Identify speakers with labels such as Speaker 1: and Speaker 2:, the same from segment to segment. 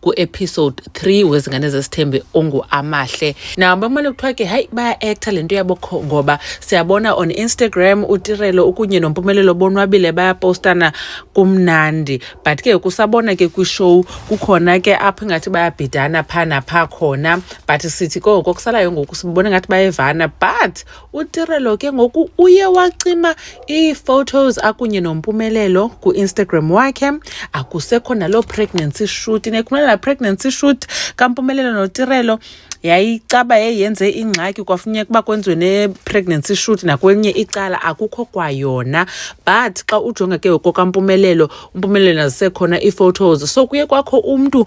Speaker 1: kuepisode 3 wezingane zesithembe onguamahle nawo bamane kuthiwa ke hayi baya-acta le nto yabokho ngoba siyabona on instagram utirelo ukunye nompumelelo bonwabile bayapostana kumnandi but ke kusabona ke kwishow kukhona ke apho ingathi bayabhidana phaa naphaa khona but sithi koko kusalayo ngoku sibona ngathi bayevana but utirelo ke ngoku uye wacima ii-photos akunye nompumelelo kuinstagram wakhe akusekho naloo pregnancy shoot nekhumela laa pregnancy shoot kampumelelo notirelo yayicaba yayenze ingxaki kwafuneka uba kwenziwe ne-pregnancy shoot nakwelinye icala akukho kwayona but xa ujonga ke ngokokampumelelo umpumelelo nazisekhona ii-photos so kuye kwakho umntu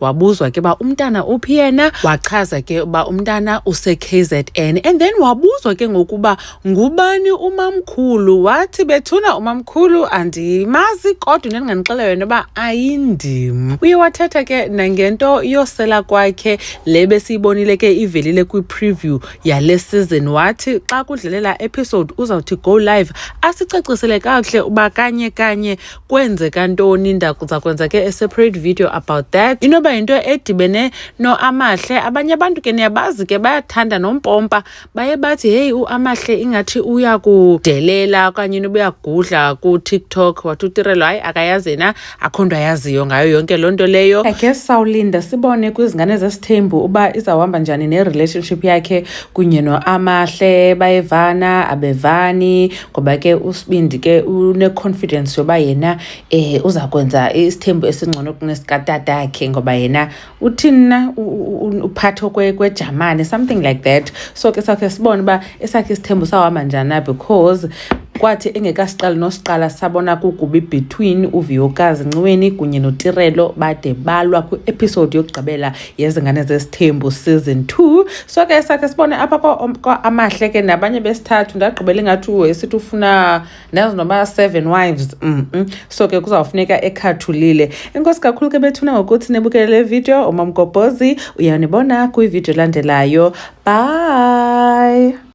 Speaker 1: wabuzwa ke uba umntana uphi yena wachaza ke uba umntana use-kzn and then wabuzwa ke ngokuba ngubani umamkhulu wathi bethuna umamkhulu andimazi kodwa into endinganixela yona uba ayindim uye wathetha ke nangento yosela kwakhe le besiyibonile ke ivelile kwi-preview yale season wathi xa kudlalela episode uzawuthi go live asicacisele kakuhle uba kanye kanye kwenzeka ntoni ndakuza kwenza ke a separate video about that inoba yinto edibene noamahle abanye abantu ke niyabazi ke bayathanda nompompa baye bathi heyi uamahle ingathi uyakudelela okanye inoba uyagudla kutiktok wathi utirelo hayi akayazi yena akho nto ayaziyo ngayo yonke loo nto leyo i guess sawulinda sibone kwizingane zesithembu uba izawuhamba njani nerelationship yakhe kunye noamahle bayevana abevani ngoba ke usibindi ke une-confidence yoba yena um uza kwenza isithembu esingcono kunesikatatake ngoba yena uthini na uphatho kwejamane something like that so ke sakhe sibone uba esakhe isithembu sawuhamba njani na because kwathi engekasiqali nosiqala sabona kugubi between uviyokazi nciweni kunye notirelo bade balwa kwi-episode yokugqibela yezingane zesithembu season two so ke sakhe sibone apha kwa-amahle ke nabanye besithathu ndagqibela ingathi esithi ufuna ndazi noba seven wives mm -mm. so ke kuzawufuneka ekhathulile inkosi kakhulu ke bethuna ngokuthi nibukele le video umamgobhozi uyanibona kwividiyo elandelayo bye